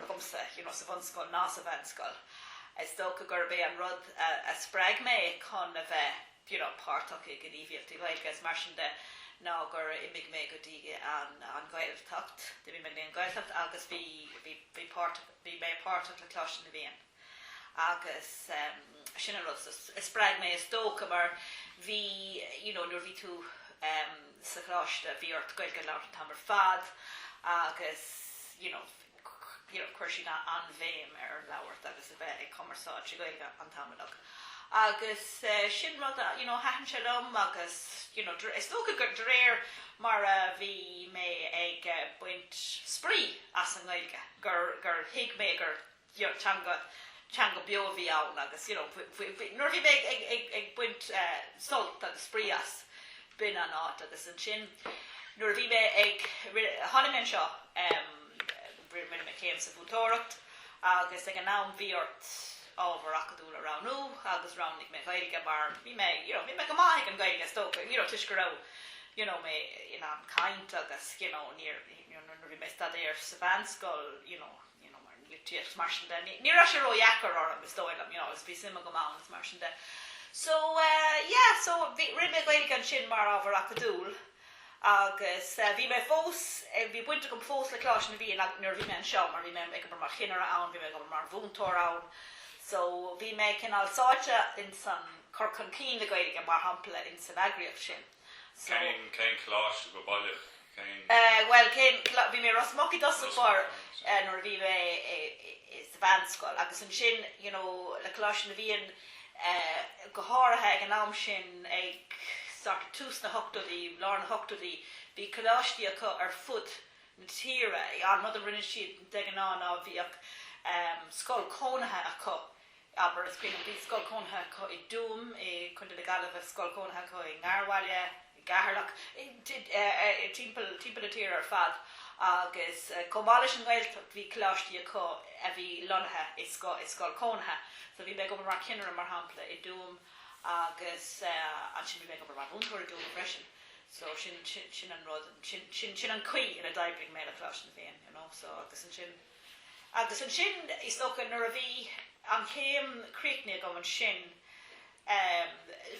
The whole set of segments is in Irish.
agamsa you know sa bhunscoil ná sa mheánscoil. Is dócha gurb é an rud a spreag mé chun a bheith you know páirteach i gníomhaíochtaí Gaeilge is mar sin de ná gur imigh mé go dtí an an Ghaeltacht, d'imigh mé go dtí an Ghaeltacht agus bhí bhí bhí páirt bhí mé páirteach le Coláiste na bhFiann. Agus sin an rud a spreag mé is dócha mar bhí you know nuair bhí tú sa choláiste bhí ort Gaeilge a labhairt an t-am ar fad agus you know you know chuir siad an-bhéim ar an labhairt agus a bheith ag cumarsáid sa Ghaeilge an t-am uilig. Agus sin rud a you know thaitin sé liom agus you know is dócha gur de réir mar a bhí mé ag baint spraoi as an nGaeilge gur gur thuig mé gur teanga, teanga beo a bhí ann agus you know faoi, faoi, nuair a bhí mé ag, ag, ag, ag baint eh, sult agus spraoi as, b'in an áit agus ansin nuair a bhí mé ag, rinne, tháinig mé anseo, em, rinne mé céim sa mhúinteoireacht agus ag an am bhí ort ábhar acadúil a roghnú agus roghnaigh mé Gaeilge mar bhí mé, you know, bhí mé go maith ag an Gaeilge is dócha, you know, toisc go raibh you know, mé in ann caint agus you know, níor, you know, nuair a bhí mé ag staidéar sa mheánscoil, you know, mar an litríocht mar sin de. Ní raibh sé ródheacair orm is dóigh liom, you know, agus bhí suim agam ann is mar sin de. So eh, yeah, so bhí, rinne mé Gaeilge ansin mar ábhar acadúil agus eh, bhí mé fós, eh, bhí baint agam fós le Coláiste na bhFiann ag, nuair a bhí mé anseo mar bhí mé ag obair mar chinnire ann, bhí mé ag obair mar mhúinteoir ann. So bhí mé cineál sáite insan cur chun cinn na Gaeilge mar shampla insan eagraíocht sin. Cén, cén coláiste, go baileach, cén. Eh, bhuel, cén, bhí mé i Ros Muc i dtosach báire eh nuair a bhí mé i, i, sa mheánscoil agus ansin you know le Coláiste na bhFiann eh go háirithe ag an am sin ag sort of tús na hochtóidí, lár na hochtóidí, bhí coláistí acu ar fud na tíre, an rud a rinne siad de ghnáth ná bhíodh eh scoil chónaithe acu, abair, is cuimhin liom, bhí scoil chónaithe acu i dTuaim i Co. na Gaillimhe, scoil chónaithe acu i nGarbhaile, i gCeatharlach, timpeall, timpeall na tíre ar fad agus chomh maith leis an nGaeltacht bhí coláistí acu a bhí lonnaithe i scoil, i scoil chónaithe. So bhí mé ag obair mar chinnire mar shampla i dTuaim agus ansin bhí mé ag obair mar mhúinteoir i dTuaim freisin. So sin, sin, sin an rud, sin, sin, sin an chaoi ina d'oibrigh mé le Coláiste na bhFiann, you know, so agus ansin, Agus ansin is dócha nuair a bhí an chéim críochnaithe agam ansin eh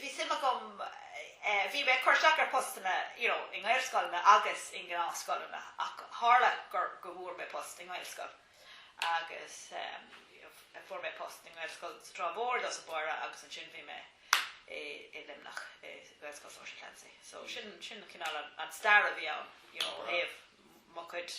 bhí suim agam eh bhí mé ag cur isteach ar phostanna you know i nGaelscoileanna agus i ngnáthscoileanna ach tharla gur go bhfuair mé post i nGaelscoil agus eh fuair mé post i nGaelscoil sa Trá Mhór i dtosach báire agus ansin bhí mé i i Luimneach i nGaelscoil Sheoirse Clancy. So sin sin cineál an stair a bhí ann you know ó thaobh mo chuid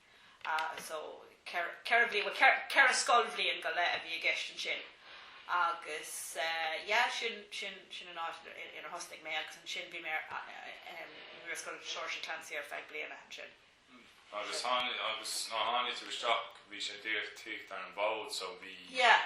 so ceithre bhliain, ceithre scoilbhliain go leith a bhí i gceist ansin agus yeah sin, sin, sin an áit inar thosnaigh mé agus ansin bhí mé i nGaelscoil Sheoirse Clancy ar feadh bliana ansin. Hmm, agus tháinig, agus nuair a tháinig tú isteach bhí sé díreach tagtha ar an bhfód so bhí, yeah,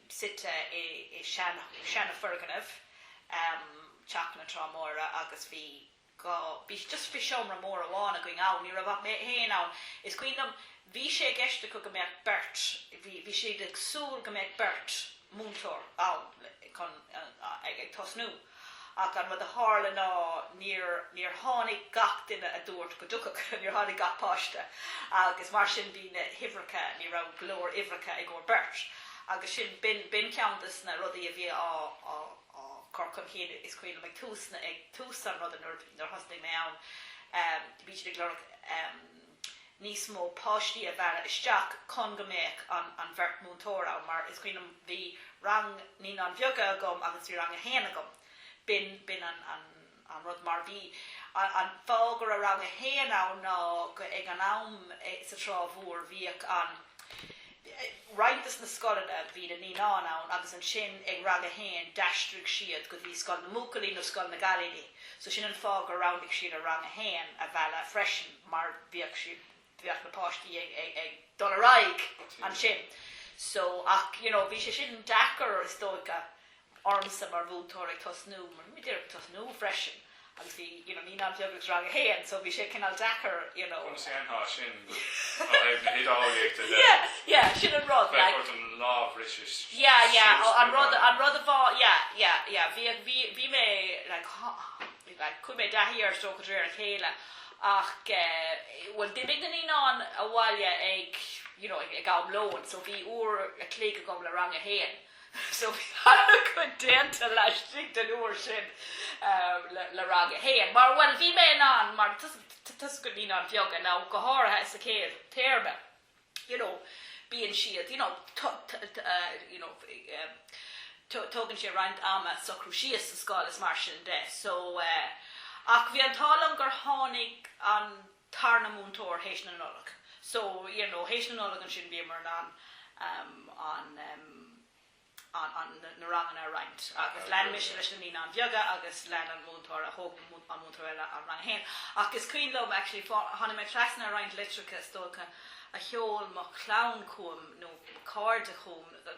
suite i seanafhoirgneamh Teach na Trá Móire agus bhí dhá, bhí just bhí seomra mór amháin againn ann, ní raibh ach mé fhéin ann. Is cuimhin liom bhí sé i gceist acu go mbeadh beirt, bhí, bhí siad ag súil go mbeadh beirt múinteoir ann chun, ag tosnú. Ach an rud a tharla ná níor, níor tháinig gach duine a dúirt go dtiocfadh siad, níor tháinig gach páiste agus mar sin bhí na huimhreacha, ní raibh go leor uimhreacha i gcomhair beirt agus sin, b'in, b'in ceann des na rudaí a bhí á, á, á chur chun cinn is cuimhin liom ag tús na, ag tús an ruda nuair, nuair a thosnaigh mé ann, bhí siad ag lorg. níos mó páistí a mhealladh isteach chun go mbeadh an bheirt múinteoir ann mar is cuimhin liom bhí rang Naíonáin Bheaga agam agus bhí rang a haon agam. B'in b'in an an rud mar bhí an an fáth go raibh rang a haon ann ná go ag an am sa Trá Mhór bhíodh an roinnt des na scoileanna bhí na naíonáin ann agus ansin ag rang a haon d'aistrigh siad go dtí scoil na mbuachaillí nó scoil na gcailíní so sin an fáth gur roghnaigh siad an rang a haon a mhealladh freisin mar bhíodh, bhíodh na páistí ag, ag, ag dul ar aghaidh ansin so ach you know bhí sé sin deacair is dócha ormsa mar mhúinteoir ag tosnú, díreach ag tosnú freisin agus bhí, you know, naíonáin bheaga agus rang a haon so bhí sé cineál deacair, you know. Conas a dhéanfá sin ó thaobh na hidirdhealaíochta de? Yeah, yeah, sin an rud, like. Bheadh ort an lámh rite síos go maith. Yeah, yeah, oh, an rud, an rud a bhá, yeah, yeah, yeah, bhí, bhí, bhí mé, like, like, chuaigh mé i dtaithí air is dócha de réir a chéile ach eh, bhuel d'imigh na naíonáin abhaile ag, you know, ag am lóin so bhí uair a chloig agam le rang a haon. So bhí an-chuid déanta laistigh den uair sin le Rang 1. Mar, bhuel, bhí mé in ann, mar toisc naíonáin bheaga, nó go háirithe sa chéad téarma, you know, bíonn siad, you know, you know, tógann sé roinnt ama socrú síos sa scoil is mar sin de. So, ach bhí an t-ádh liom gur tháinig an, tarna múinteoir théis na Nollag so you know théis na Nollag ansin bhíomar in ann ehm an ehm an na ranganna a roinnt agus lean mise leis na Naíonáin Bheaga agus lean an múinteoir a thóg an múinteoir eile an rang a haon ach is cuimhin liom actually tháinig mé trasna ar roinnt litreacha is dócha a sheol mo chlann chugam nó cairde chugam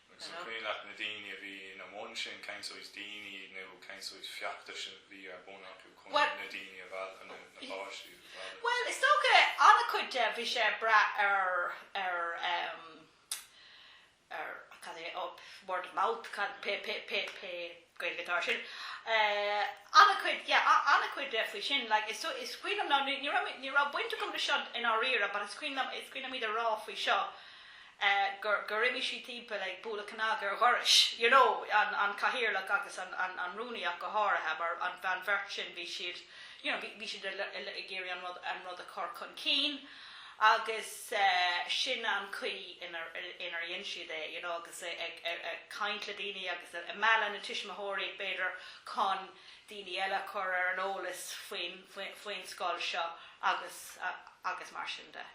Agus an cuimhin leat na daoine a bhí ina mbun sin? Cén sórt daoine iad nó cén sórt feachtas a bhí ar bun acu chun na daoine a mhealladh, nó na páistí a mhealladh? Bhuel, is dócha, an-chuid de, bhí sé ag brath ar, ar, ar, cad é, by word of mouth, cad, pé, pé, pé, pé, Gaeilge atá air sin. An-chuid, yeah, an-chuid de faoi sin. Like, is, is cuimhin liom ná, ní raibh, ní raibh baint agam le seo i ndáiríre, but is cuimhin liom, is cuimhin liom iad a rá faoi seo, eh, gur, gur imigh siad timpeall ag bualadh cnag ar dhoirse, you know, an, an cathaoirleach agus an, an, an rúnaí ach go háirithe, mar an, an bheirt sin, bhí siad, you know, bhí, bhí siad ag iarraidh an rud, an rud a chur chun cinn. Agus sin an chaoi inar dhein siad é, you know, agus ag caint le daoine agus ag mealladh na tuismitheoirí b'fhéidir chun daoine eile a chur ar an eolas faoin scoil seo agus mar sin de,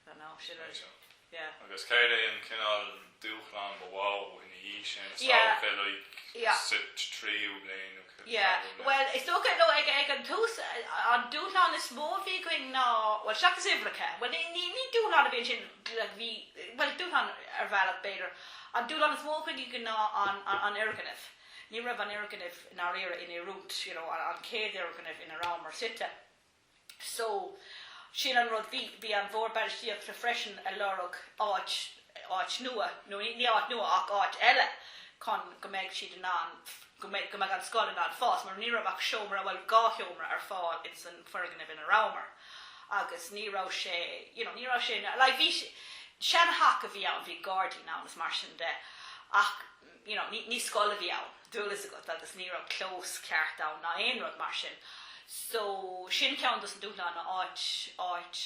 you know. Agus cén cineál dúshlán ba mhó ina dhiaidh sin? Is dócha, like, sa tríú bliain nó cad é rud mar sin? Is dócha, nó ag an tús, an dúshlán is mó a bhí againn ná, bhuel, seachas uimhreacha, bhuel, ní dúshlán a bhí ansin, like, bhí, bhuel, dúshlán ar bhealach, b'fhéidir, an dúshlán is mó a bhí againn ná an fhoirgneamh. Ní raibh an fhoirgneamh i ndáiríre in oiriúint, you know, an chéad fhoirgneamh ina rabhamar suite. so, sin an rud, bhí, bhí an Bhord Bainistíochta freisin ag lorg áit, áit nua, nó ní, ní áit nua ach áit eile chun go mbeidh siad in ann, go mbeidh, go mbeadh an scoil in ann fás mar ní raibh ach seomra, bhuel dhá sheomra ar fáil ins an foirgneamh ina rabhamar agus ní raibh sé, you know, ní raibh sé ina, like bhí, sean theach a bhí ann, bhí gairdín ann is mar sin de ach, you know, ní, ní scoil a bhí ann, tá a fhios agat, agus ní raibh clós ceart ann ná aon rud mar sin. So, sin ceann dos na dúshláin ná áit, áit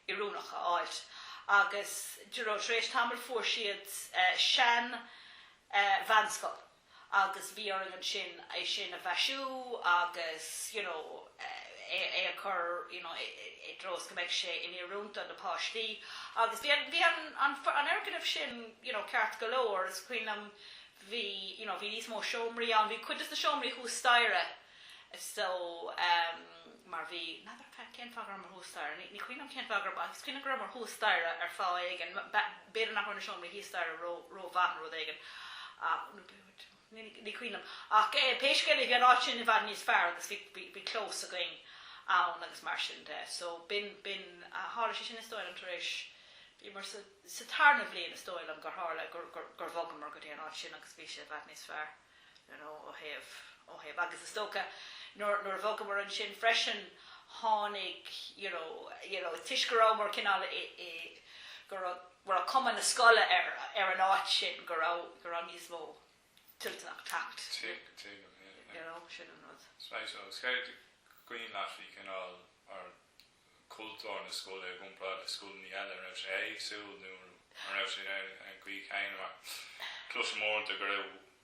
oiriúnach a fháilt. Agus, d'you know, tar éis tamaill fuair siad eh, sean eh, mheánscoil agus bhí orainn ansin é sin a mhaisiú agus, you know, é a chur you know i dtreo is go mbeidh sé in oiriúint do na páistí agus bhí an, bhí an, an, an fhoirgneamh sin you know ceart go leor is cuimhin liom bhí you know bhí níos mó seomraí ann, bhí cuid dos na seomraí thuas staighre so ehm mar bhí, n'fheadar cad, cén fáth go rabhamar thuas staighre, ní, ní cuimhin liom cén fáth go raibh ach is cuimhin liom go rabhamar thuas staighre ar fáth éigin, b'fhéidir nach raibh na seomraí thíos staighre ró, ró mhaith nó rud éigin ach, nó b'fhéidir, Ní cuimhin liom. Ach pé scéal é bhí an áit sin i bhfad níos fearr agus bhí clós againn ann agus mar sin de. So b'in, b'in, tharla sé sin is dóigh liom tar éis, bhíomar sa, sa tarna bhliain is dóigh liom gur tharla gur, gur, gur bhogamar go dtí an áit sin agus bhí sé i bhfad níos fearr you know ó thaobh, ó thaobh. Agus is dócha nuair, nuair a bhogamar ansin freisin tháinig you know, you know is toisc go rabhamar cineál i, i, go raibh, go raibh cuma na scoile ar an áit sin, go raibh níos mó toilteanach teacht. Agus céard is cuimhin leat faoi cineál mar cultúr na scoile i gcomparáid le scoileanna eile, an raibh sé éagsúil nó an raibh sé ar an gcaoi chéanna mar cloisim uaireanta go raibh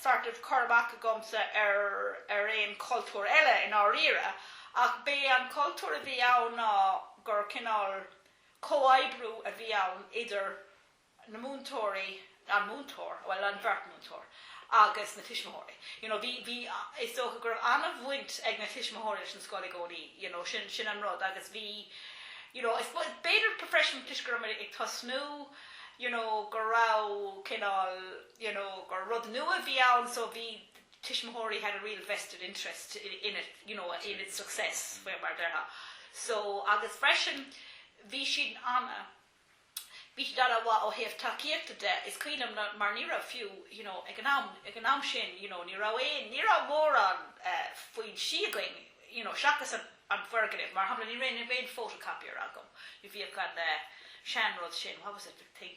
sort of cur amach agamsa ar, ar aon chultúr eile i ndáiríre ach b'é an cultúr a bhí ann ná gur cineál comhoibriú a bhí ann idir na múinteoirí, an múinteoir, bhuel an bheirt múinteoir agus na tuismitheoirí. You know, bhí, bhí, is dócha go raibh an-bhaint ag na tuismitheoirí leis an scoil i gcónaí, you know, sin, sin an rud agus bhí, you know, I suppose, b'fhéidir freisin toisc go raibh muid ag tosnú, you know, go raibh cineál, you know, gur rud nua a bhí ann so bhí tuismitheoirí had a real vested interest in it, you know, in its success, faoi mar a déarfá. So agus freisin bhí siad ana, bhí siad ana mhaith ó thaobh tacaíochta de, is cuimhin liom mar ní raibh fiú, you know, ag an am, ag an am sin, you know, ní raibh aon, ní raibh mórán foinsí againn, you know, seachas an, an foirgneamh, mar shampla ní raibh aon photocopier agam, bhíodh an sean-rud sin, what was it, the thing,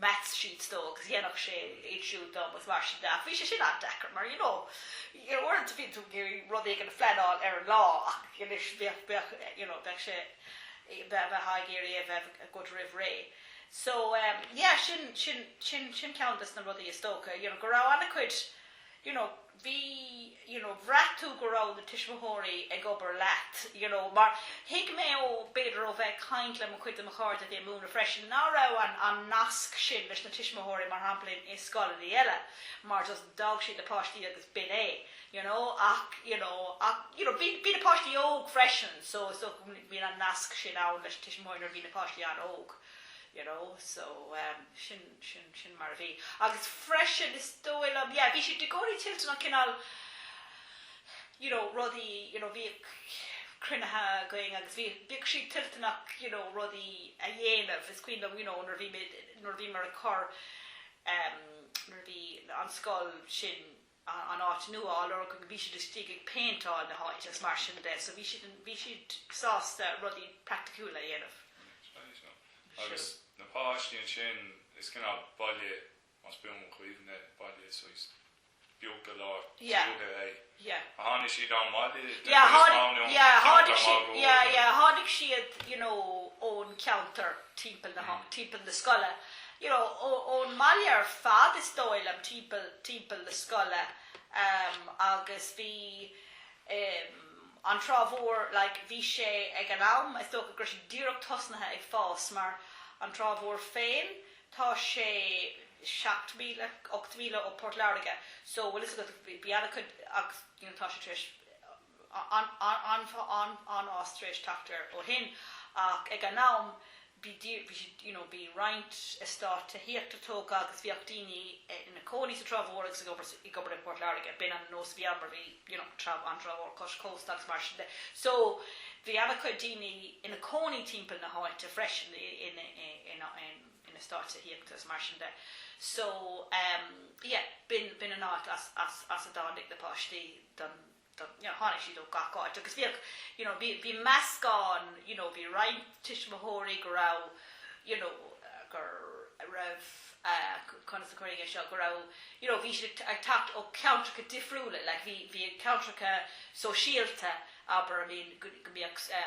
maths sheets dó agus dhéanfadh sé iad siúd dom agus mar sin de ach bhí sé sin an-deacair mar you know uaireanta bíonn tú ag iarraidh rud éigin a phleanáil ar an lá ach anois bheadh bheadh you know bheadh sé bheadh ag iarraidh a bheith a good roimh ré so um, yeah sin sin sin sin ceann des na rudaí is dócha you know go raibh an-chuid you know bhí you know bhraith tú go raibh na tuismitheoirí ag obair leat you know mar thuig mé ó b'fhéidir ó bheith ag caint le mo chuid de mo chairde a bhí ag múineadh freisin ná raibh an an nasc sin leis na tuismitheoirí mar shampla i scoileanna eile mar just d'fhág siad na páistí agus b'in é you know ach you know ach you know bhí bhí na páistí óg freisin so is dócha go mbíonn an nasc sin ann leis na tuismitheoirí nuair a bhíonn na páistí an-óg you know so um, sin Sin, sin mar a bhí. Agus freisin is dóigh liom, yeah, bhí siad i gcónaí toilteanach cineál you know, rudaí, you know, bhíodh cruinnithe againn agus bhí, bhíodh siad toilteanach, you know, rudaí a dhéanamh, is cuimhin liom, you know, nuair a bhí muid, nuair a bhíomar ag cur, em, nuair a bhí an scoil sin, an áit nua, you know, go bhí siad istigh ag péinteáil na háite is mar sin de so bhí siad, bhí siad sásta rudaí praiticiúla a dhéanamh. Agus na páistí ansin, is cineál baile más buan mo chuimhne é baile saghas beag go leor tuaithe é. Yeah. A tháinig siad ón mbaile? Yeah, tháinig, yeah, tháinig siad, yeah, yeah, tháinig siad, you know, ón cheantar timpeall na, timpeall na scoile. you know, ón mbaile ar fad is dóigh liom, timpeall, timpeall na scoile ehm agus bhí ehm an Trá Mhór like bhí sé ag an am is dócha go raibh sé díreach tosnaithe ag fás mar An Trá Mhór féin tá sé seacht míle, ocht mhíle ó Port Láirge so bhfuil fhios agat bhí ana chuid agus you know tá sé tar éis an-fhás tar éis teacht air ó shin ach ag an am bhí you know bhí roinnt estáit tithíochta tógtha agus bhíodh daoine ina gcónaí sa Trá Mhór agus ag obair i bPort Láirge. B'in an nós a bhí ann mar bhí you know an Trá an Trá Mhór cois cósta agus mar sin de. So bhí ana chuid daoine ina gcónaí timpeall na háite freisin in estáit tithíochta is mar sin de. So yeah b'in b'in an áit as as a dtáinig na páistí don you know, tháinig siad ó gach áit agus bhíodh, you know, bhí, bhí meascán, you know, bhí roinnt tuismitheoirí go raibh, you know, gur raibh, eh, conas a chuirfidh mé é seo, go raibh, you know, bhí siad ag teacht ó cheantracha difriúla, like, bhí, bhí ceantracha sóisialta, abair, I mean, go mbíodh, eh,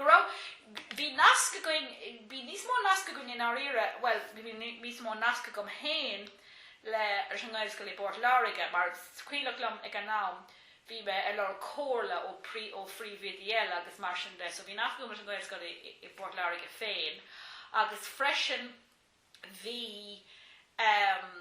Go raibh, bhí nasc againn, bhí níos mó nasc againn i ndáiríre, bhuel, bhí níos mó nasc agam féin le, leis an nGaelscoil i bPort Láirge mar is cuimhin liom ag an am bhí mé ag lorg comhairle ó, ó phríomhoidí eile agus mar sin de so bhí nasc agam leis an nGaelscoil i bPort Láirge féin agus freisin, bhí ehm.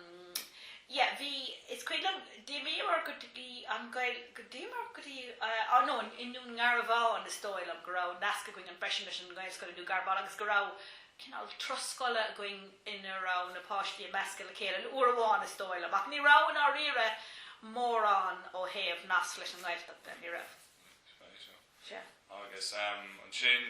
yeah bhí is cuimhin liom d'imíomar go dtí an Gael go d'imíomar go dtí á nó i nDún Garbhán is dóigh liom go raibh nasc againn ann freisin leis an nGaelscoil i nDún Garbhán agus go raibh cinál turas scoile againn ina raibh na páistí ag meascadh le chéile aon uair amháin is dóigh liom ach ní raibh i ndáiríre mórán ó thaobh nasc leis an nGaeltacht de ní raibh. Sin é seo. Agus ehm ansin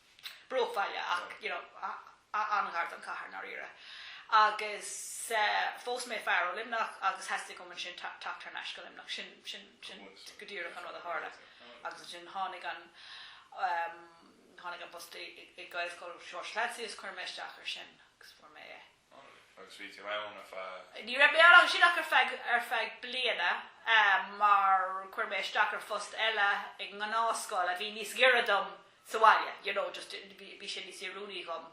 bruachbhaile ach you know an-ghar don chathair i ndáiríre agus phós mé fear ó Luimneach agus theastaigh uaim ansin teacht thar n-ais go Luimneach. Sin sin sin go díreach an rud a tharla agus ansin tháinig an tháinig an post i i nGaelscoil Sheoirse Clancy is chuir mé isteach ar sin agus fuair mé é. Agus bhí tú ann ar feadh. Ní raibh mé ann ach sin ach ar feadh, ar feadh bliana mar chuir mé isteach ar phost eile i ngnáthscoil a bhí níos giorra dom sa bhaile, you know just bhí sé níos oiriúnaí dhom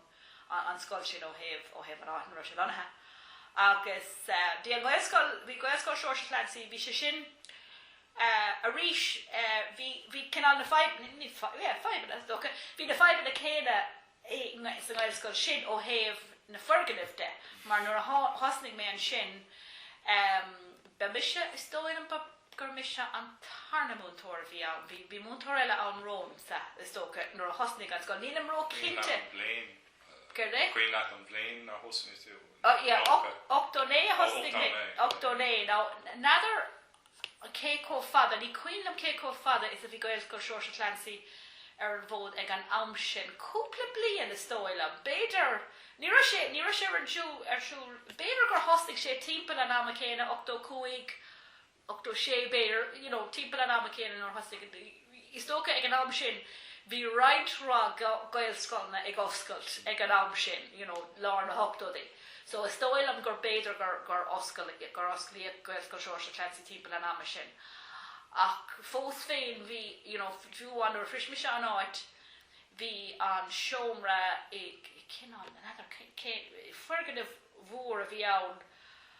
an scoil sin ó thaobh, ó thaobh an áit ina raibh sé lonnaithe. Agus bhí an Ghaelscoil, bhí Gaelscoil Sheoirse Clancy, bhí sé sin arís, bhí, bhí cineál na fadhbanna, ní fadhbanna, bhí na fadhbanna céanna sa nGaelscoil sin ó thaobh na foirgnimh de mar nuair a thosnaigh mé ansin ba mise, is dóigh liom gur mise an tarna múinteoir a bhí ann, bhí múinteoir eile ann romham sa, is dócha, nuair a thosnaigh an scoil, nílim ró chinnte. An cuimhin leat an bhliain a thosnaigh tú. Ó yeah, 89 a thosnaigh mé, 89. Now, n'fheadar cé chomh fada, ní cuimhin liom cé chomh fada is a bhí Gaelscoil Seoirse Clancy ar an bhfód ag an am sin, cúpla bliain is dóigh liom, b'fhéidir, ní raibh sé, ní raibh sé ar siúl, ar siúl, b'fhéidir gur thosnaigh sé timpeall an ama céanna, ochtó cúig, ochtó sé b'fhéidir, you know, timpeall an ama céanna nuair a thosnaigh. Is dócha ag an am sin bhí roinnt mhaith Gaelscoileanna ag oscailt ag an am sin, you know, lár na hochtóidí. So is dóigh liom gur b'fhéidir gur, gur oscail, gur osclaíodh Gaelscoil Seoirse Clancy timpeall an ama sin. Ach fós féin bhí, you know, fiú amháin nuair a shrois mise an áit bhí an seomra i, kind of, n'fheadar cén, foirgneamh mór a bhí ann,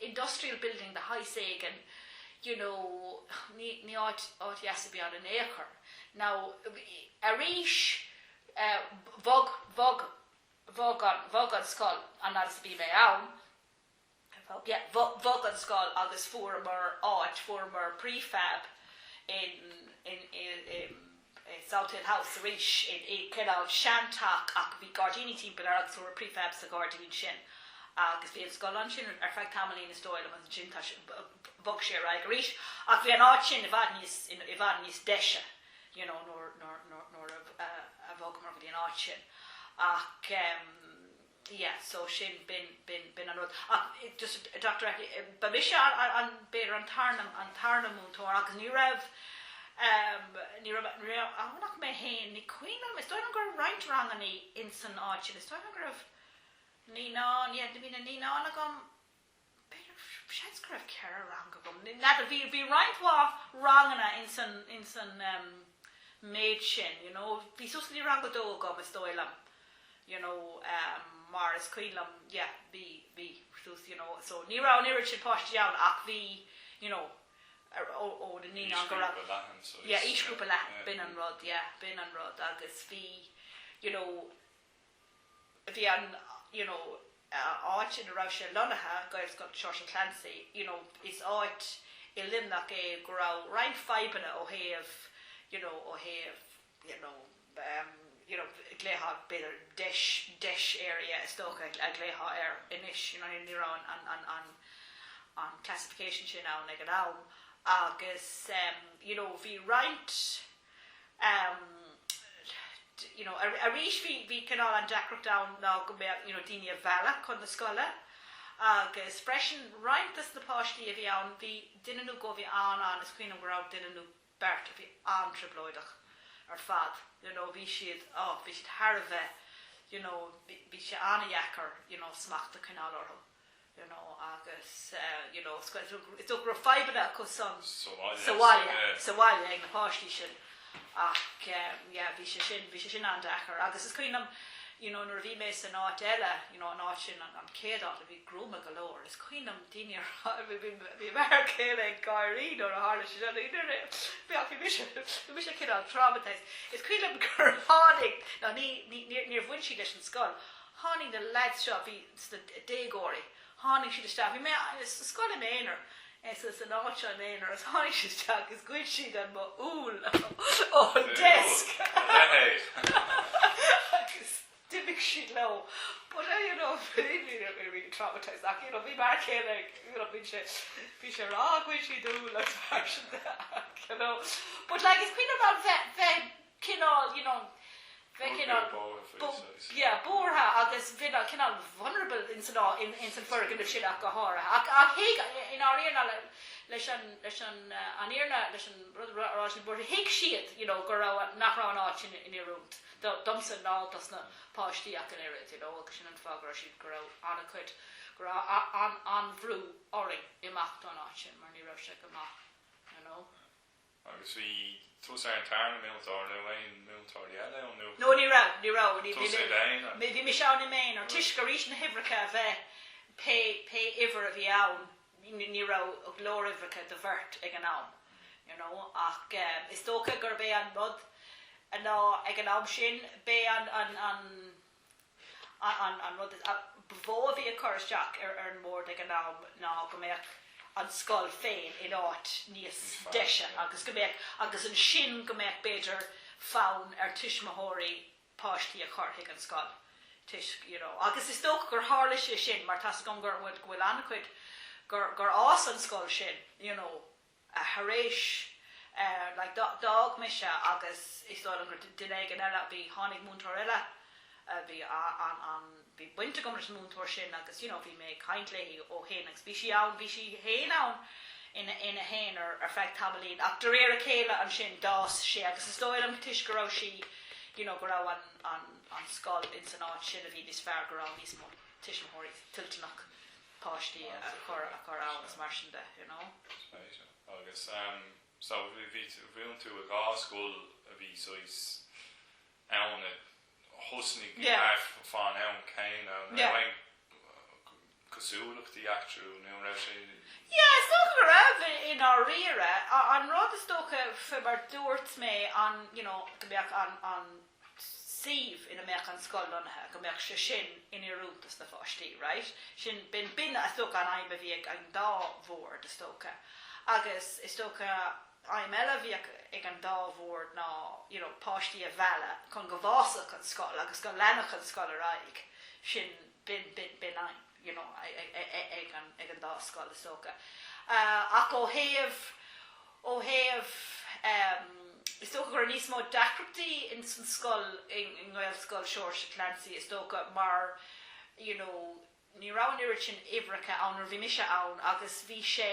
industrial building de shaghas éigin you know ní ní áit áit dheas a bhí ann in ao' chor. Now arís eh bhog bhog bhog an bhog an scoil an fhad is a bhí mé ann yeah bho- bhog an scoil agus fuaireamar áit fuaireamar prefab in in in in Southill House arís i kind of seanteach ach bhí gairdíní timpeall air agus fuair prefab sa ghairdín sin agus bhí an scoil ansin ar feadh tamaillín is dóigh liom agus ansin tar éis, bhog sé ar aghaidh arís ach bhí an áit sin i bhfad níos, i bhfad níos deise you know nuair a bhogamar go dtí an áit sin ach. yeah so sin b'in b'in b'in an rud ach just a dúirt mé ba mise an b'fhéidir an tarna an tarna múinteoir agus ní raibh ehm ní raibh ní raibh ann ach mé fhéin ní cuimhin liom is dóigh liom go raibh roinnt ranganna ins an áit sin is dóigh liom go raibh naíonáin yeah do bhí na naíonáin agam b'fhéidir, seans go raibh ceithre rang agam, n'fheadar, bhí, bhí roinnt mhaith ranganna ins an, ins an ehm méid sin, you know, bhí suas go dtí rang a dó agam is dóigh liom, you know, ehm mar is cuimhin liom, yeah, bhí, bhí suas, you know, so ní raibh an oiread sin páistí ann ach bhí, you know, ar, ó, ó na naíonáin go raibh, yeah, aoisghrúpa leathan, b'in an rud, yeah, b'in an rud agus bhí, you know, bhí an you know áit ina raibh sé lonnaithe, Gaelscoil Seoirse Clancy, you know is áit i Luimneach é go raibh roinnt fadhbanna ó thaobh you know ó thaobh you know ehm you know ghlaofá b'fhéidir DEIS DEIS area is dócha a ghlaofá air anois you know ní raibh an an an an classification sin ann ag an am agus ehm you know bhí roinnt you know, arís bhí, bhí cineál an deacracht ann ná go mbeadh, you know, daoine a mhealladh chun na scoile agus freisin roinnt de na páistí a bhí ann bhí duine nó dhó, bhí an, an, is cuimhin liom go raibh duine nó beirt a bhí an-trioblóideach ar fad, you know, bhí siad, oh, bhí siad thar a bheith, you know, bhí, bhí sé an-dheacair, you know, smacht a choinneáil orthu. you know, agus, you know, is go, is dócha go raibh fadhbanna acu san, sa bhaile, sa bhaile ag na páistí sin ach, yeah, bhí sé sin, bhí sé sin an-deacair agus is cuimhin liom, you know, nuair a bhí mé san áit eile, you know, an áit sin, an, an chéad áit a bhí gruama go leor, is cuimhin liom daoine ar a, bhí, bhí, bhí m'fhear céile ag gáirí nuair a tharla sé sin, nuair a, bhí, ach bhí mise, bhí mise cineál traumatised. Is cuimhin liom gur tháinig, ná ní, ní, níor, níor bhain siad leis an scoil tháinig na lads seo, bhí sna déagóirí, tháinig siad isteach, bhí mé sa scoil im aonar, san áit seo im aonar agus tháinig siad isteach agus ghoid siad an mo úll ón desk agus d'imigh siad leo but I you know bhí traumatized ach you know bhí m'fhear céile you know bhí sé bhí sé ag rá ghoid siad úll agus mar sin you know but like is cuimhin liom bheith bheith cineál, you know, bheith cineál buartha agus bheith cineál vulnerable ins an foirgneamh sin ach go háirithe. Ach thuig, inár iarna leis an, leis an, an iarna leis an rud a raibh sé buartha, thuig siad, you know, go raibh, nach raibh an áit sin oiriúnach domsa ná dos na páistí ach an oiread, you know, agus sin an fáth go raibh siad, go raibh an-chuid, go raibh an-bhrú orainn imeacht ón áit sin mar ní raibh sé go maith, you know. Agus bhí. Tusa id' aonar mar mhúinteoir nó aon múinteoirí eile ann? No, ní raibh, ní raibh. Tusa id' aonar? Bhí mise ann im' aonar. Toisc arís na huimhreacha a bheith, pé, pé uimhir a bhí ann, ní raibh go leor uimhreacha do bheirt ag an am, you know. Ach is dócha gurb é an rud ná ag an am sin, b'é an, an, an, An rud ba mhó a bhí ag cur isteach ar an mbord ag an am ná go mbeadh an scoil féin in áit níos deise agus go mbeadh, agus ansin go mbeadh b'fhéidir fonn ar thuismitheoirí páistí a chur chuig an scoil toisc, you know. Agus is dócha gur tharla sé sin mar tá 's agam gur, go bhfuil an-chuid, gur fhás an scoil sin, you know. thar éis, like, d'fhág mise agus is dóigh liom gur duine éigin eile a bhí, tháinig múinteoir eile, bhí an, an, bhí baint agam leis an múinteoir sin agus you know bhí mé ag caint léi ó shin agus bhí sí ann, bhí sí féin ann ina, ina haonar ar feadh tamaillín ach de réir a chéile ansin d'fhás sé agus is dóigh liom toisc go raibh sí, you know go raibh an, an, an scoil in san áit sin a bhí níos fearr go raibh níos mó tuismitheoirí toilteanach. páistí a chur a chur ann is mar sin de you know. Spéisiúil agus em so bhí bhíonn tú i dhá scoil a bhí saghas ann a thosnaigh thart fán am céanna an raibh aon cosúlachtaí eatarthu nó an raibh sé. Yeah is dócha go raibh i ndáiríre an rud is dócha mar dúirt mé an you know go mbeadh an suíomh ina mbeadh an scoil lonnaithe, go mbeadh sé sin in oiriúntas do na páistí, right? Sin, b'in, b'in is dócha an aidhm a bhí ag an dá bhord is dócha. Agus is dócha aidhm eile a bhí ag, ag an dá bhord ná you know, páistí a mhealladh chun go bhfásfadh an scoil agus go leanfadh an scoil ar aghaidh. Sin, b'in, b'in, b'in aidhm. you know ag an ag an dá scoil is dócha ach ó thaobh ó thaobh ehm is dócha go raibh níos mó deacrachtaí in san scoil in nGaelscoil Seoirse Clancy is dócha mar you know ní raibh an oiread sin uimhreacha ann nuair bhí mise ann agus bhí sé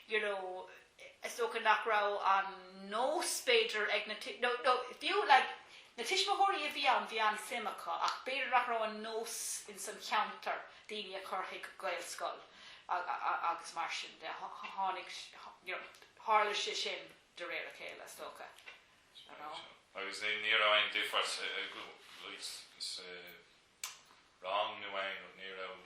you know Is dócha nach raibh an nós, b'fhéidir, ag na, nó fiú, like, na tuismitheoirí a bhí ann, bhí an-suim acu ach b'fhéidir nach raibh an nós in san cheantar daoine a chur chuig Gaelscoil agus mar sin de. Tháinig, you know, tharla sé sin de réir a chéile, is dócha, you know. Agus ní raibh aon difear sa, like, sa rang nó aon rud, ní raibh.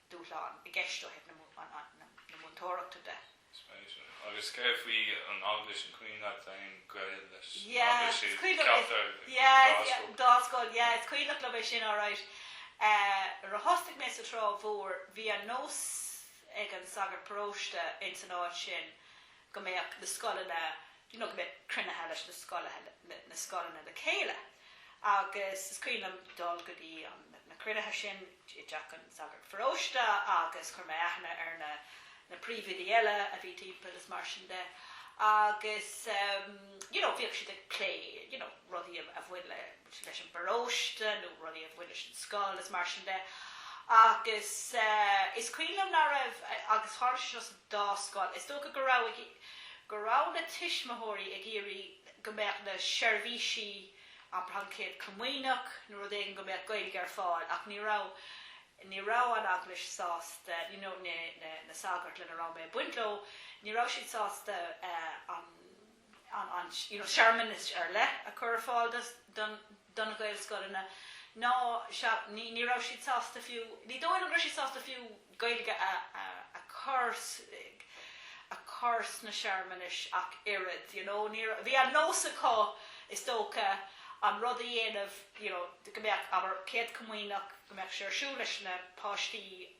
dúshlán i gceist ó thaobh na múinteoireachta de. Spéisiúil. Agus céard faoi an Eaglais, an cuimhin leat aon gaol leis an Eaglais? Sa cheantar ag an dá scoil. Dá scoil, yeah. Is cuimhneach liom é sin alright. Nuair a thosnaigh mé sa Trá Mhór bhí an nós ag an sagart paróiste ins an áit sin, go mbeadh na scoileanna, you know go mbeadh cruinnithe leis na scoileanna, na scoileanna le chéile agus is cuimhin liom dul go dtí an, na cruinnithe sin i dteach an sagart paróiste agus chuir mé aithne ar na, na príomhoidí eile a bhí timpeall is mar sin de agus ehm, you know bhíodh siad ag plé, you know rudaí a bhain leis. leis an bparóiste nó rudaí a bhain leis an scoil is mar sin de agus is cuimhin liom nach raibh agus tharla sé seo sa dá scoil is dócha go raibh go raibh na tuismitheoirí ag iarraidh go mbeadh na seirbhísí an Chéad Chomaoineach nó rud éigin go mbeadh Gaeilge ar fáil ach ní raibh ní raibh an Eaglais sásta you know na na sagairt lena raibh mé ag baint leo ní raibh siad sásta an an searmanas ar leith a chur ar fáil do na Gaelscoileanna ná ní raibh siad sásta fiú, ní dóigh liom go raibh siad sásta fiú Gaeilge a chur sna searmanais ach oiread, you know. Bhí an nós acu is dócha an rud a dhéanamh, you know, go mbeadh, abair, Céad Chomaoineach, go mbeadh sé ar siúl leis na páistí,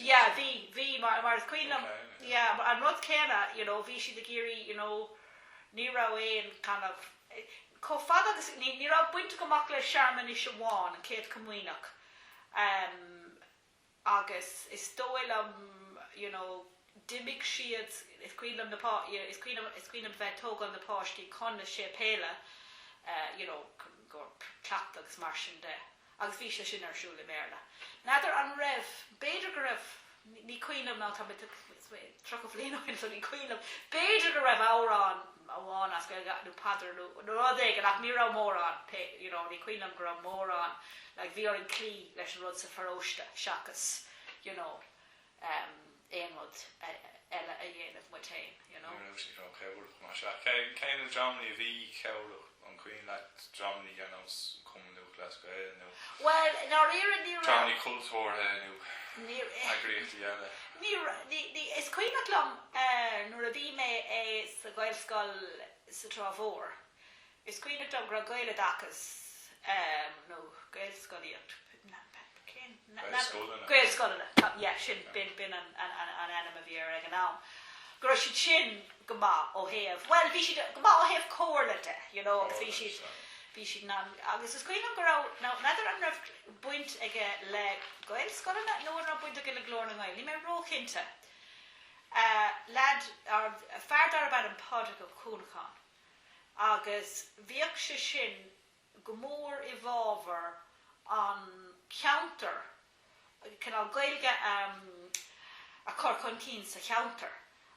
Yeah, bhí, bhí, mar, mar is cuimhin liom, yeah, an rud céanna, you know, bhí siad ag iarraidh, you know, ní raibh aon kind of, chomh fada agus, ní, ní raibh baint agam ach le searmanais amháin, an Chéad Chomaoineach, em, agus is dóigh liom, you know, d'imigh siad, is cuimhin liom na pá, you know, is cuimhin liom, is cuimhin liom bheith ag tógáil na páistí chun na séipéile, eh, you know, go, cleachtadh agus mar sin de. Agus bhí sé sin ar siúl i mBéarla. N'fheadar an raibh, b'fhéidir go raibh, ní cuimhin liom now tá tríocha bliain ó shin so ní cuimhin liom, b'fhéidir go raibh amhrán amháin as Gaeilge nó paidir nó rud éigin ach ní raibh mórán, you know, ní cuimhin liom go raibh mórán, like bhí orainn cloí leis an rud sa pharóiste seachas, you know, aon rud eile a dhéanamh muid féin, you know. Ní raibh sé chomh cabhrach mar seo. Cé na dreamannaí a bhí cabhrach, an cuimhin leat dreamannaí ar nós Cumann Lúthchleas Gael nó dreamannaí cultúrtha nó eagraíochtaí eile? Is cuimhneach liom nuair a bhí mé sa Ghaelscoil sa Trá Mhór, Is cuimhneach liom go raibh Gaeloideachas nó Gaelscolaíocht, cén, Gaelscoileanna. Gaelscoileanna, yeah, sin, b'in an ainm a bhí air ag an am, go raibh siad sin go maith ó thaobh, bhuel, bhí siad go maith ó thaobh comhairle de, you know, agus bhí siad, bhí siad in ann, agus is cuimhin liom go raibh, now, n'fheadar an raibh baint aige le Gaelscoileanna nó an raibh baint aige le Glór na nGael, níl mé róchinnte. Leaid, fear darbh ainm Pádraig Ó Cuanacháin. agus bhíodh sé sin go mór i bhfábhar an cheantair, cineál Gaeilge a chur chun cinn sa cheantar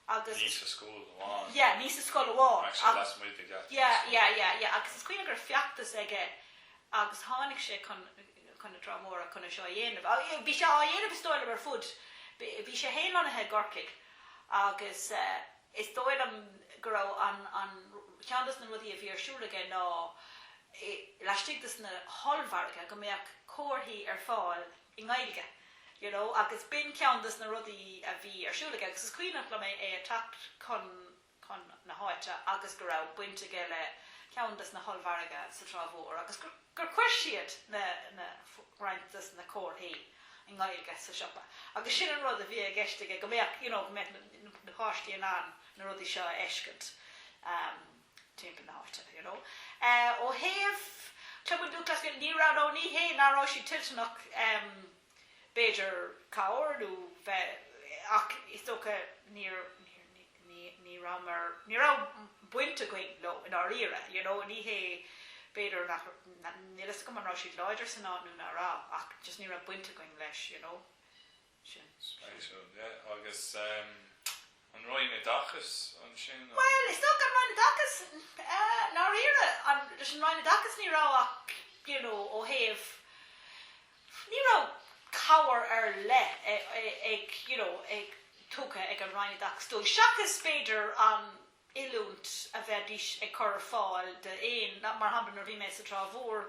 agus. Ní sa scoil amháin. Yeah, ní sa scoil amháin. Ach lasmuigh den scoil. Yeah, yeah, yeah, yeah. Agus is cuimhin liom go raibh feachtas aige agus tháinig sé chun chun na Trá Móire chun é seo a dhéanamh. Bhí sé á dhéanamh is dóigh liom ar fud, bhí sé fhéin lonnaithe i gCorcaigh agus eh, Is dóigh liom go raibh an an ceann des na rudaí a bhí ar siúl aige ná laistigh des na hollmhargaidh go mbeadh comharthaí ar fáil i nGaeilge you know agus b'in ceann des na rudaí a bhí ar siúl aige agus is cuimhneach liom é ag teacht chun chun na háite agus go raibh baint aige le ceann des na hollmhargaidh sa Trá Mhór agus gur gur chuir siad na roinnt dos na comharthaí i nGaeilge sa siopa agus sin an rud a bhí i gceist aige go mbeadh you know go mbeadh na páistí in ann na rudaí seo a fheiscint timpeall na háite you know. Ó thaobh Cumann Lúthchleas Gael ní raibh, no ní hé ná rabhadar toilteanach, b'fhéidir cabhair nó a bheith ach is dócha níor ní rabhamar ní raibh baint againn leo i ndáiríre you know ní hé b'fhéidir níl a fhios agam an raibh siad láidir san áit nó ná raibh ach just ní raibh baint againn leis you know sin sin. Agus. An Roinn Oideachais ansin nó? Bhuel, is dócha an Roinn Oideachais i ndáiríre. Leis an Roinn Oideachais ní raibh ach, you know, ó thaobh, ní raibh cabhair ar leith ag, you know, ag, tugtha ag an Roinn Oideachais dóibh, seachas b'fhéidir an oiliúint a bheidís ag cur ar fáil d'aon, mar shampla nuair a bhí mé sa Trá Mhór,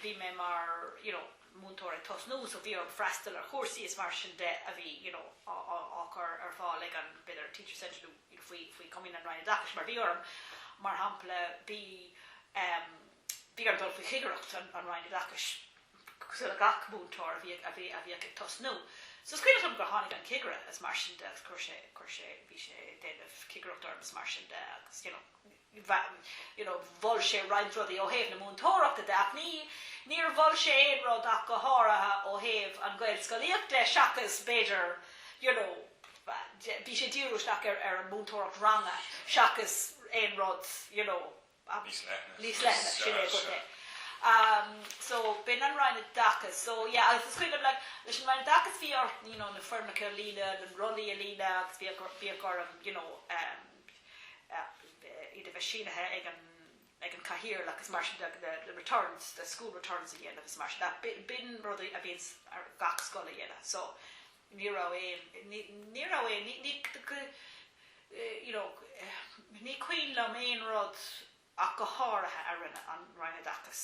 bhí mé mar, you know, múinteoir ag tosnú so bhí orm freastal ar chúrsaí is mar sin de a bhí you know á chur ar fáil ag an b'fhéidir Teacher Centre nó you know faoi faoi choimirce an Roinn Oideachais mar bhí orm mar shampla bhí em bhí orm dul faoi chigireacht an an Roinn Oideachais cosúil le gach múinteoir a bhí a bhí a bhí ag tosnú so is cuimhin liom gur tháinig an cigire is mar sin de agus chuir sé chuir sé bhí sé déanamh cigireacht orm is mar sin de agus you know you know, mhol sé roinnt rudaí ó thaobh na múinteoireachta de ach ní, níor mhol sé aon rud ach go háirithe ó thaobh an Ghaelscolaíocht de seachas b'fhéidir, you know, bhí sé dírithe isteach ar, ar an múinteoireacht ranga seachas aon rud, you know, Níos leithne. níos leithne, sin é go díreach. Umm, so, b'in an Roinn Oideachais. So, yeah, agus is cuimhin liom, like, leis an Roinn Oideachais bhí ort, you know, na foirmeacha a líonadh, na rollaí a líonadh agus bhíodh, bhíodh orm, you know, umm, iad a bheith sínithe ag an ag an Cathaoirleach is mar sin de the the returns the school returns a dhéanamh is mar sin de. B'in b'in rud a bhíonn ar gach scoil a dhéanamh so ní raibh aon ní ní raibh aon ní ní you know ní cuimhin liom aon rud ach go háirithe a rinne an Roinn Oideachais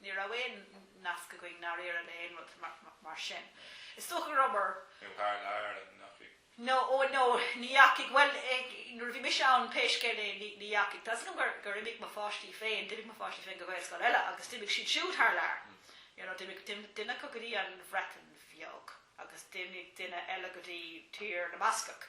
Ní raibh aon nasc againn, i ndáiríre le haon rud mar sin. Is dócha go rabhamar. Nó thar lear an ndeachaigh? No, oh no, ní dheachaigh. Bhuel, nuair a bhí mise ann, pé scéal é, ní dheachaigh. Tá 'fhios agam gur imigh mo pháistí féin, d'imigh mo pháistí féin go Gaelscoil eile agus d'imigh siad siúd thar lear. You know, d'imigh duine acu go dtí an Bhreatain Bheag agus d'imigh duine eile go dtí Tír na mBascach.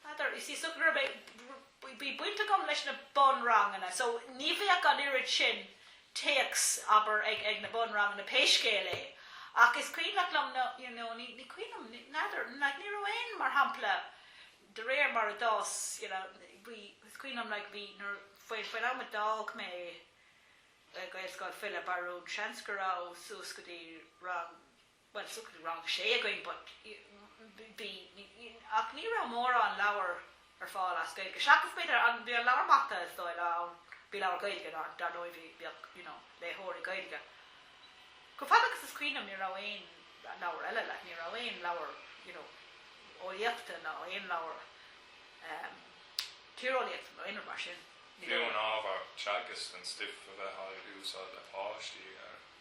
N'fheadar, Is í so go raibh mé, bhí baint agam leis na bunranganna so ní bheadh an oiread sin téacs, abair, ag na bunranganna pé scéal é ach is cuimhneach liom na, you know, ní cuimhin liom, n'fheadar, like ní raibh aon, mar shampla, de réir mar a d'fhás, you know, bhí, is cuimhin liom like bhí nuair, faoi, faoin am a d'fhág mé Gaelscoil Philib Barún seans go raibh suas go dtí rang, bhuel is dócha bhí rang sé againn but bhí ach ní raibh mórán leabhar ar fáil as Gaeilge seachas b'fhéidir an bhí an leabhar mata is dóigh liom ann bhí leabhar Gaeilge ann dar ndóigh bhí bhíodh you know léitheoirí Gaeilge chomh fada agus is cuimhin liom ní raibh aon leabhar eile like ní raibh aon leabhar you know eolaíochta ná aon leabhar ehm tíreolaíochta nó aon rud mar sin ní raibh fiú an ábhar teagaisc an stuif a bhí á úsáid le páistí ar.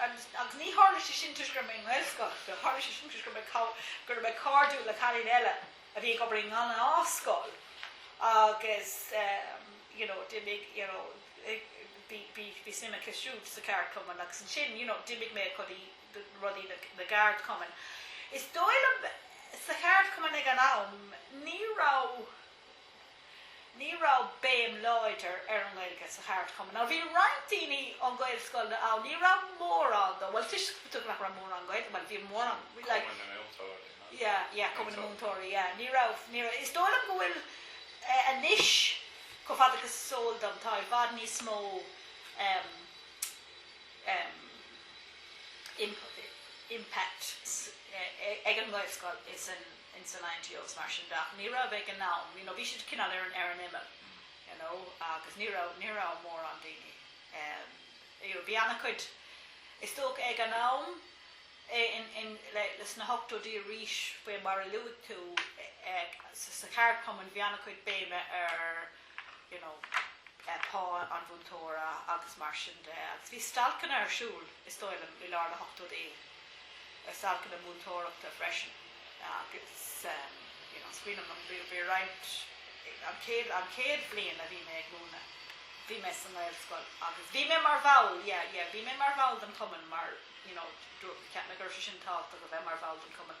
Agus ní tharla sé sin toisc go raibh mé i nGaelscoil, tharla sé sin toisc go raibh mé go raibh mé cairdiúil le cailín eile a bhí ag obair i ngnáthscoil agus you know d'imigh you know bhí bhí bhí suim aici siúd sa cheardchumann agus ansin you know d'imigh mé go dtí rudaí na na gceardchumann. Is dóigh liom sa cheardchumann ag an am ní raibh Ní raibh béim láidir ar an nGaeilge sa cheardchumann. Now bhí roinnt daoine ón Gaelscoil ann, ní raibh mórán dó, bhuel toisc nach raibh mórán Gaeilge, bhuel bhí mórán, like. Cumann na Múinteoirí, nó? Yeah, yeah, Cumann na Múinteoirí, yeah. Ní raibh, ní raibh, is dóigh liom go bhfuil eh, anois, chomh fada agus is eol dom, tá i bhfad níos mó em, em, imp- impact s- eh, eh, ag an nGaelscoil is an in san INTO agus mar sin de ach ní raibh ag an am, you know, bhí siad cineál ar an ar an imeall, you know, agus ní raibh, ní raibh mórán daoine, ehm, you know, bhí an-chuid, is dócha, ag an am, i, in, in, le, leis na hochtóidí arís faoi mar a luaigh tú, eh, eh, sa, sa cheardchumann bhí an-chuid béime ar. you know, eh, pá an mhúinteora agus mar sin de. Agus bhí stailceanna ar siúl, is dóigh liom, i lár na hochtóidí, eh, stailceanna múinteoireachta freisin. Agus, em, you know, is cuimhin liom, bhí, bhí roinnt, eh, an chéad, an chéad bhliain a bhí mé ag múineadh, bhí mé sa nGaelscoil agus bhí mé mar bhall, yeah, yeah, bhí mé mar bhall den chumann mar, you know, dú- cheap mé go raibh sé sin tábhachtach a bheith mar bhall den chumann.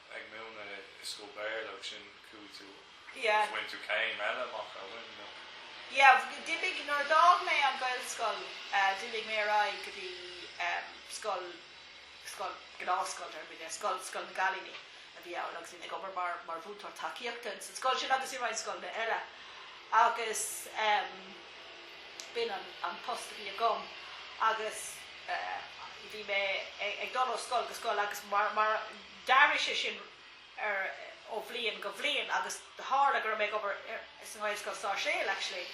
ag múineadh i scoil Béarla agus ansin chuaigh tú agus bhain tú céim eile amach ar bhain nó? Yeah, d'imigh, nuair a d'fhág mé an Gaelscoil d'imigh mé ar aghaidh go dtí scoil, scoil, gnáthscoil deir muid, scoil, scoil na gcailíní a bhí ann agus bhí mé ag obair mar, mar mhúinteoir tacaíochta ins an scoil sin agus i roinnt scoileanna eile agus ehm b'in an, an post a bhí agam agus eh bhí mé ag dul ó scoil go scoil agus mar, mar, D'athraigh sé sin ar ó bhliain go bhliain agus tharla go raibh mé ag obair ar sa nGaelscoil Sáirséal actually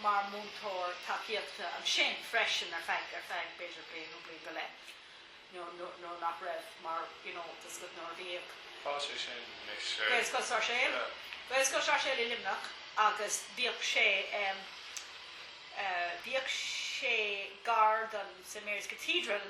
mar múinteoir tacaíochta ansin freisin ar feadh, ar feadh b'fhéidir bliain nó bliain go leith nuair, nuair, nuair nach raibh mar you know tá a fhios agat nuair a bhíodh. Tá sé sin anois ar. Gaelscoil Sáirséal, Gaelscoil Sáirséal i Luimneach agus bhíodh sé em, eh bhíodh sé gar don St Mary's Cathedral,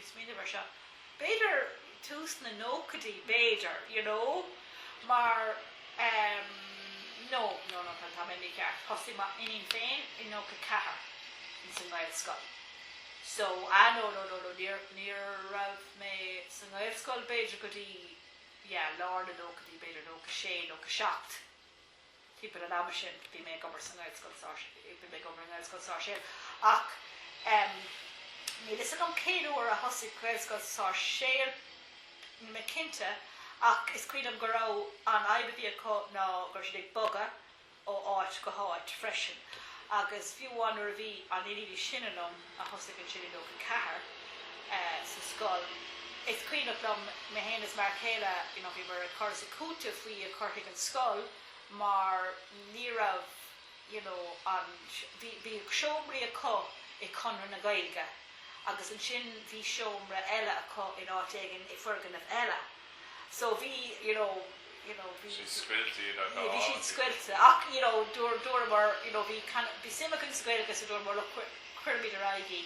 ag smaoineamh ar seo, b'fhéidir tús na nóchaidí, b'fhéidir, you know, mar ehm, no, no, no, tá, tá mé mícheart, thosaigh m'iníon féin i nócha ceathair ins an nGaelscoil. So, ah, no, no, no, no, níor, ní raibh mé sa nGaelscoil b'fhéidir go dtí, yeah, lár na nóchaidí, b'fhéidir nócha sé, nócha seacht. timpeall an ama sin bhí mé ag obair sa nGaelscoil Sáirséal, bhí mé ag obair i nGaelscoil Sáirséal ach ehm níl a fhios agam cén uair a thosaigh Gaelscoil Sáirséal, níl mé cinnte ach is cuimhin liom go raibh, an fhadhb a bhí acu ná go raibh siad ag bogadh ó áit go háit freisin agus fiú amháin nuair a bhí, an iníon is sine againn, thosaigh sí i nócha ceathair sa scoil. Is cuimhin liom mé féin is m'fhear céile, you know, bhíomar ag cur is ag cúiteamh faoina cur chuig an scoil mar ní raibh, you know, an, bhí, bhí seomraí acu i gConradh na Gaeilge agus ansin bhí seomra eile acu in áit éigin i bhfoirgneamh eile. So bhí, you know, you know, bhí. siad scoilte iad ach bhí siad scoilte ach, you know, dúramar, you know, bhí kind of, bhí suim againn sa scoil agus dúramar look cuirfimid ar aghaidh í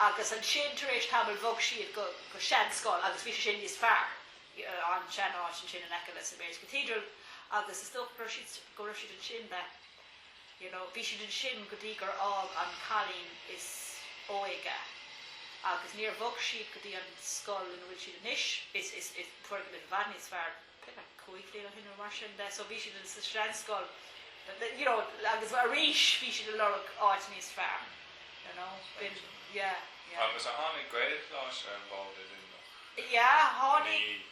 agus ansin tar éis tamaill bhog siad go go seanscoil agus bhí sé sin níos fearr an sean áit ansin in aice le St Mary's Cathedral agus is dócha go raibh siad go raibh siad ansin le you know. Bhí siad ansin go dtí gur fhág an cailín is óige agus níor bhog siad go dtí an scoil ina bhfuil siad anois, is, is, is, atá i bhfad níos fearr, b'fhéidir cúig bhliana ó shin nó mar sin de so bhí siad sa seanscoil you know agus arís bhí siad ag lorg áit níos fearr you know. B'in, yeah, yeah. Agus ar tháinig Gaelcholáiste ar an bhfód i Luimneach? Yeah, tháinig,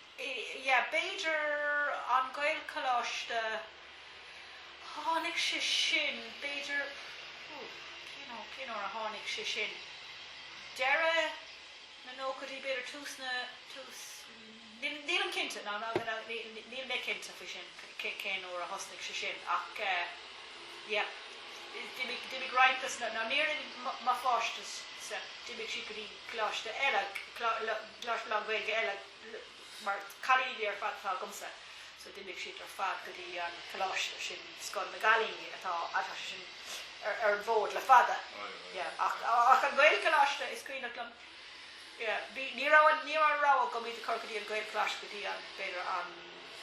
yeah, b'fhéidir an Gaelcholáiste. Tháinig sé sin b'fhéidir, hú, cén uair, cén uair a tháinig sé sin? Deireadh na nóchaidí b'fhéidir, tús na, tús, níl, nílim cinnte, ná, ná, ná, ní, níl mé cinnte faoi sin cé, cén uair a thosnaigh sé sin ach eh, yep, d'imigh, d'imigh roinnt de, ná, ná níor imigh mo pháistíse, d'imigh siad go dtí coláiste eile, clá, lá, coláiste lán-Ghaeilge eile, mar cailíní ar fad atá agamsa? So d'imigh siad ar fad go dtí an coláiste sin, scoil na gcailíní, atá atá sé sin ar ar an bhfód le fada. Yeah, ach ach an Gaelcholáiste is cuimhneach liom, yeah, bhí ní raibh an ní raibh an rogha agam iad a chur go dtí an Gaelcholáiste go dtí an b'fhéidir an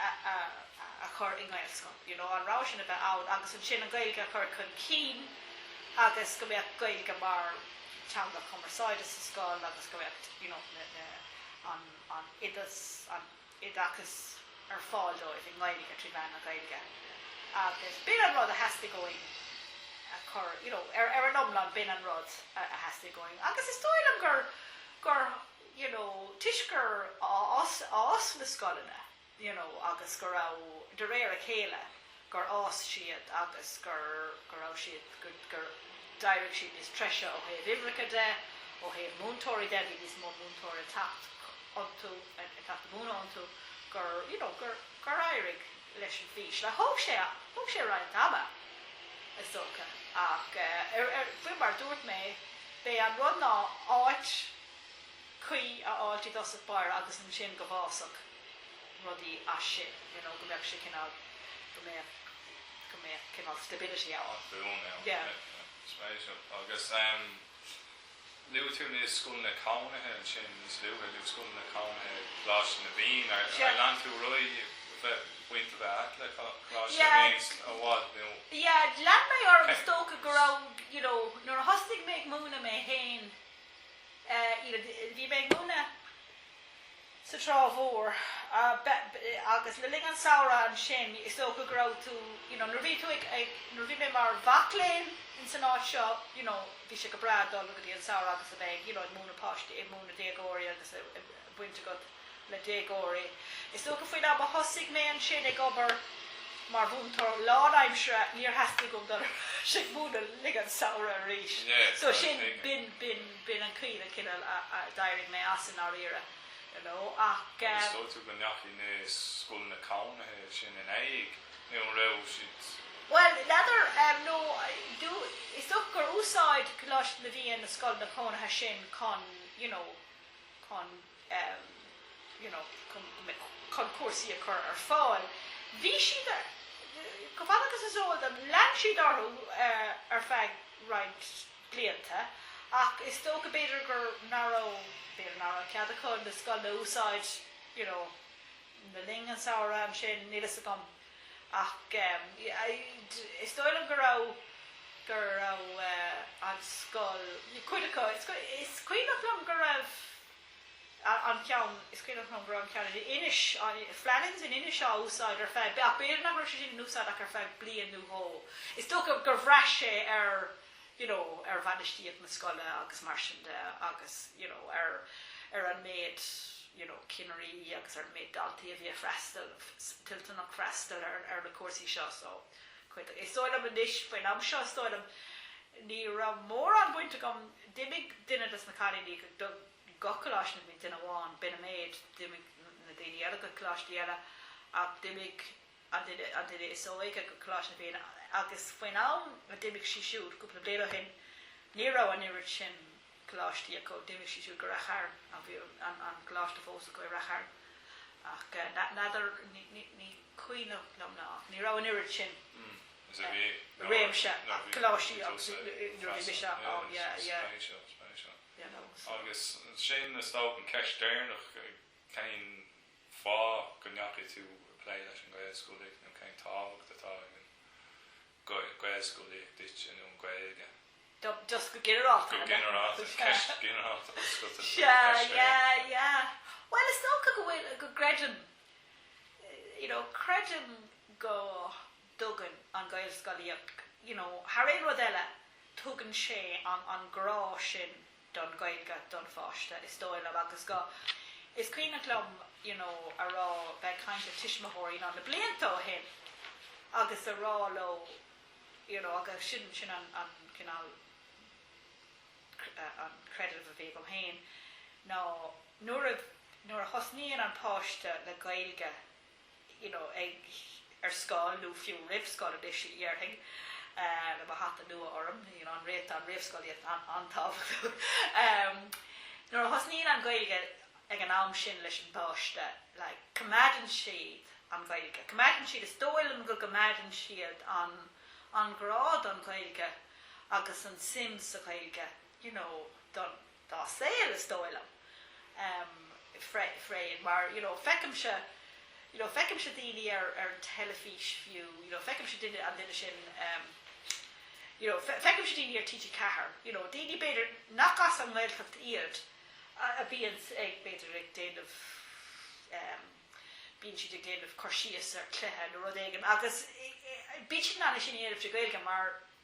a chur i nGaelscoil, you know, an rogha sin a bheith ann agus ansin an Ghaeilge a chur chun cinn agus go mbeadh Gaeilge mar teanga chumarsáide sa scoil agus go mbeadh, you know, na, na, an, an oideas, an oideachas ar fáil dóibh i nGaeilge, trí mheán na Gaeilge. Agus b'in an rud a theastaigh uainn a chur, you know, ar, ar an iomlán b'in an rud a, a theastaigh uainn. Agus is dóigh liom gur, gur you know toisc gur fhás fhás na scoileanna you know agus go raibh de réir a chéile gur fhás siad agus gur go raibh siad go gur d'éirigh siad níos treise ó thaobh uimhreacha de ó thaobh múinteoirí de bhí níos mó múinteoir ag teacht iontu ag teacht a múineadh iontu gur you know gur gur éirigh leis an fhís. Thóg sé thóg sé roinnt ama is dócha ach ar ar faoi mar dúirt mé b'é an rud ná áit cuí a fháilt i dtosach báire agus ansin go bhfásfadh rudaí as sin you know go mbeadh sé cineál go mbeadh go mbeadh cineál stability ann Tá fúm ann yeah yeah yeah spéisiúil agus em luaigh tú na scoileanna cónaithe ansin níos luaithe, na scoileanna cónaithe Coláiste na bhFiann ar ar yeah lean tú ar aghaidh bheith baint a bheith agat le Coláiste na yeah bhFiann i bhfad nó yeah lean mé orm cé is dócha go raibh you know nuair a thosnaigh mé ag múineadh mé fhéin Bhí mé ag múineadh sa Trá Mhór agus le linn an samhradh ansin is dócha go raibh tú, you know, nuair a bhí tú ag, nuair a bhí mé mar mhac léinn ins an áit seo, you know, bhí sé go breá dul go dtí an samhradh agus a bheith ag, you know, ag múineadh páistí, ag múineadh déagóirí agus a bhaint agat. le déagóirí. Is dócha faoin am a thosaigh mé ansin ag obair mar mhúinteoir lánaimseartha níor theastaigh uaim dul ar ais ag múineadh i rith an samhradh arís. So sin, b'in, b'in, b'in an chaoi a cineál a, a, d'éirigh mé as i ndáiríre. You know, ach eh. Agus an dóigh leat go ndeachaigh na scoileanna cónaithe sin in éag nó an raibh siad? Bhuel, n'fheadar, em, no, do, is dócha gur úsáid Coláiste na bhFiann na scoileanna cónaithe sin chun, you know, chun. em you know chun chun cúrsaí a chur ar fáil. Bhí siad chomh fada agus is eol dom lean siad orthu eh ar feadh roinnt blianta ach is dócha b'fhéidir gur nach raibh b'fhéidir nach raibh cead acu na scoileanna a úsáid you know le linn an samhradh ansin níl a fhios agam. Ach is dóigh liom go raibh, go raibh an scoil, cuid acu, is cuimhneach liom go raibh an ceann, is cuimhneach liom go raibh an ceann in Inis, Flannan's in Inis á úsáid ar feadh, ach b'fhéidir nach raibh sé sin in úsáid ach ar feadh bliain nó dhó. Is dócha gur bhraith sé ar. you know, ar bhainistíocht na scoile agus mar sin de agus, you know, ar, ar an méid, you know, cinnirí agus ar an méid daltaí a bhí ag freastal, toilteanach freastal ar, ar na cúrsaí seo. So, cuid, is dóigh liom anois, faoin am seo is dóigh liom ní raibh mórán baint agam, d'imigh duine des na cailíní go, do gach Choláiste na bhFiann, duine amháin, b'in an méid, d'imigh na daoine eile go coláistí eile ach d'imigh, an duine is óige go Coláiste na bhFiann agus faoin am a d'imigh sí siúd, cúpla bliain ó shin, ní raibh an oiread sin coláistí acu, d'imigh sí siúd go Rath Chairn bhí an coláiste fós acu i Rath Chairn ach n'fheadar, ní cuimhneach liom ná ní raibh an oiread sin réimse coláistí acu nuair a bhí mise ann, yeah, yeah. Agus sin an ceist deireanach, cén fáth go ndeachaigh tú ag plé leis an nGaelscolaíocht nó cén tábhacht atá ag an nGaelscolaíocht duit nó an Ghaeilge. just go ginearálta. Go ginearálta. Ceist ghinearálta oscailte an cheist é anseo. yeah yeah bhuel is dócha go bhfuil go gcreidim you know creidim go dtugann an Ghaelscolaíocht you know thar aon rud eile tugann sé an an grá sin don Ghaeilge don pháiste, is dóigh liom, agus go, is cuimhneach liom you know a rá, bheith ag caint le tuismitheoirí na blianta ó shin agus a rá leo you know agus sin, sin an, an cineál an creideamh a bhí agam féin ná nuair a, nuair a thosnaíonn an páiste le Gaeilge, you know ag, ar scoil nó fiú roimh scoil anois a dhéarfainn le mo hata nua orm, you know an réamh an réamhscolaíocht an-tábhachtach. em Nuair a thosnaíonn an Ghaeilge ag an am sin leis an bpáiste, like coimeádann siad an Ghaeilge. Coimeádann siad, is dóigh liom go gcoimeádann siad an an grá don Ghaeilge agus an suim sa Ghaeilge, you know don. dá saol is dóigh liom freisin mar you know feicimse you know feicimse daoine ar ar an teilifís fiú you know feicimse duine an duine sin em you know feicimse daoine ar TG4 you know daoine b'fhéidir nach as an nGaeltacht iad a, a bhíonns ag b'fhéidir ag déanamh em bíonn siad ag déanamh cur síos ar cluiche nó rud éigin agus bíonn siad in ann é sin a dhéanamh trí Gaeilge mar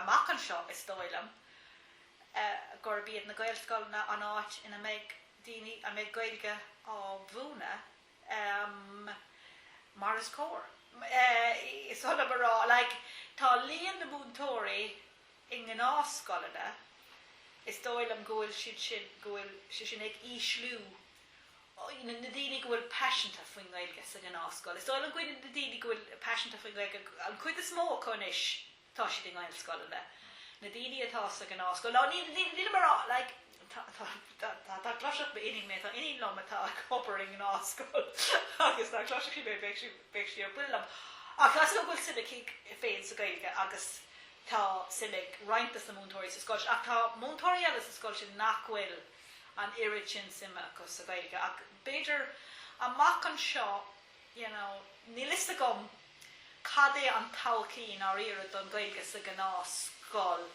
amach anseo, is dóigh liom gurb iad na Gaelscoileanna an áit ina mbeidh daoine a mbeidh Gaeilge á múineadh mar is cóir. Is oth liom a rá, like, tá líon na múinteoirí i ngnáthscoileanna, is dóigh liom go bhfuil siad sin, go bhfuil sé sin ag ísliú na daoine go bhfuil paiseanta faoin nGaeilge sa ghnáthscoil. Is dóigh liom go bhfuil na daoine go bhfuil paiseanta faoin nGaeilge, an chuid is mó acu anois tá siad i nGaelscoileanna. Na daoine atá sa ghnáthscoil, ná ní, ní, nílim ar a', like, tá, tá, tá, tá, dá gcloisfeadh m'iníon mé, tá iníon liom atá ag obair i ngnáthscoil agus dá gcloisfeadh sí mé bheadh sí, bheadh sí ar buile liom. Ach tá a fhios agam go bhfuil suim aici féin sa Gaeilge agus tá suim ag roinnt de na múinteoirí sa scoil sin ach tá múinteoirí eile sa scoil sin nach bhfuil. an oiread sin suime acu sa Ghaeilge ach b'fhéidir amach anseo you know níl 'fhios agam cad é an todhchaí i ndáiríre don Ghaeilge sa ghnáthscoil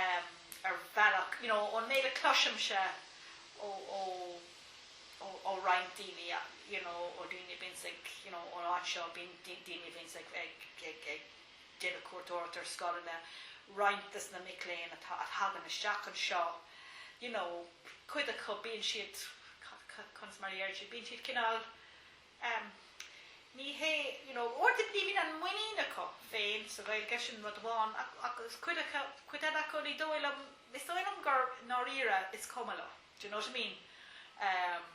em ar bhealach you know ón méid a chloisimse ó ó ó ó roinnt daoine you know ó daoine a bhíonns ag you know ón áit seo bíonn daoine a bhíonns ag ag ag Déanamh cuairteoireacht ar scoileanna, roinnt de na mic léinn atá, a thagann isteach anseo, you know, cuid acu, bíonn siad, conas mar a dhéarfaidh siad, bíonn siad cineál, em, ní hé, you know, sort of, ní bhíonn an muinín acu féin sa Ghaeilge, sin rud amháin, ach, ach is cuid acu, cuid eile acu ní dóigh liom, is dóigh liom gur, i ndáiríre, is cuma leo, d'you know what I mean? Em.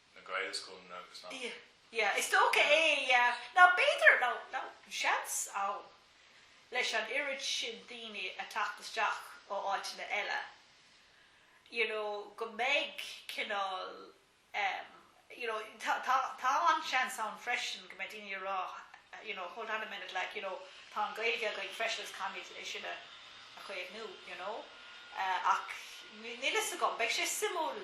na Gaelscoileanna agus na. Yeah, yeah, is dócha é, yeah. Nó b'fhéidir, nó, nó seans ann leis an oiread sin daoine a theacht isteach ó áiteanna eile, you know, go mbeidh cineál, em, you know, tá, tá, tá an-seans ann freisin go mbeidh daoine a rá, you know, hold on a minute, like, you know, tá an Ghaeilge againn freisin agus caithfimid é sin a, a chaomhnú, you know. Eh, ach níl a fhios agam, beidh sé suimiúil.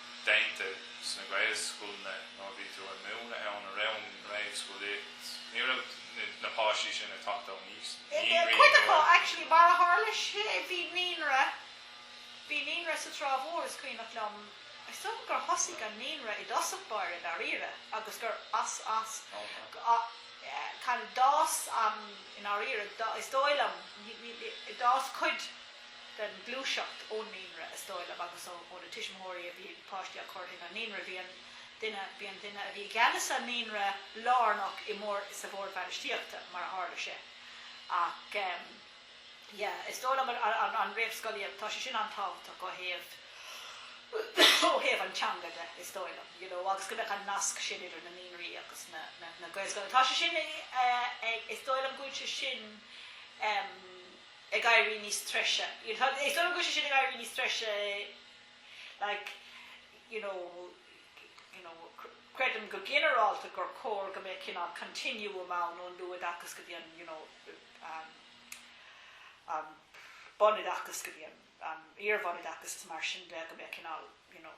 déanta sna Gaelscoileanna nó a bhí tú a múineadh ann i rith an réamhscolaíocht, ní raibh na páistí sin ag teacht ó naíonraí Cuid acu, nó. actually, mar a tharla sé bhí naíonra, bhí naíonra sa Trá Mhór is cuimhneach liom, is dóigh gur thosaigh an naíonra i dtosach báire dáiríre agus gur as, as, kind of d'fhás an, i ndáiríre, is dóigh liom, d'fhás cuid, den ghluaiseacht ón naíonra, is dóigh liom, agus ó na tuismitheoirí a bhí páistí á gcur chuig an naíonra. Bhí an duine, bhí an duine a bhí i gceannas an naíonra lárnach i mBord, sa Bhord Bhainistíochta, mar a tharla sé. Ach em. Yeah. Is dóigh liom an, an réamhscolaíocht, tá sé sin an-tábhachtach ó thaobh, ó thaobh an teanga de, is dóigh liom, you know, agus go mbeadh an nasc sin idir na naíonraí agus na, na, na Gaelscoileanna. Tá sé sin eh, ag, is dóigh liom go bhfuil sé sin em. ag éirí níos treise. Is dóigh liom go bhfuil sé sin ag éirí níos treise like, you know, you know, creidim go ginearálta gur cóir go mbeadh cineál continuum ann ón luathoideachas go dtí an, you know, an, an bunoideachas go dtí an, an iarbhunoideachas is mar sin de, go mbeadh cineál, you know,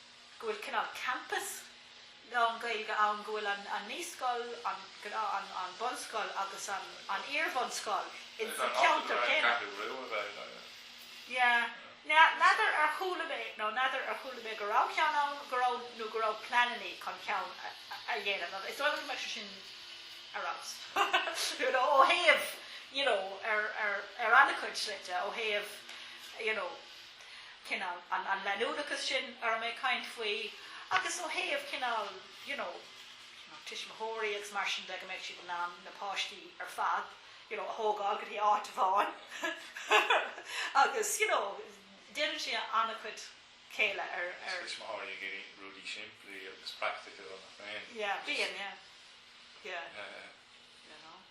go bhfuil cineál campus lán-Gaeilge ann, go bhfuil an naíscoil, an an bunscoil agus an an iarbhunscoil in sa cheantar céanna. Is í an áit ar nós an Ceathrú Rua b'fhéidir, yeah. Yeah. Now n'fheadar ar chuala mé nó n'fheadar ar chuala mé go raibh ceann ann, go raibh nó go raibh pleanannaí chun ceann a dhéanamh ach. Is dóigh liom go mbeadh sé sin ar fheabhas, you know, ó thaobh, you know, ar ar ar an-chuid slite, ó thaobh, you know, cineál, an leanúnachas sin a raibh mé ag caint faoi agus ó thaobh cineál, you know, na tuismitheoirí agus mar sin de, go mbeadh siad in ann na páistí ar fad, you know, a thógáil go dtí áit amháin agus, you know, déanann sé an-chuid céille ar, ar. Bíonn tuismitheoirí ag iarraidh rudaí simplí agus praiticiúla nach mbíonn. Yeah, bíonn, yeah, yeah. Yeah, yeah.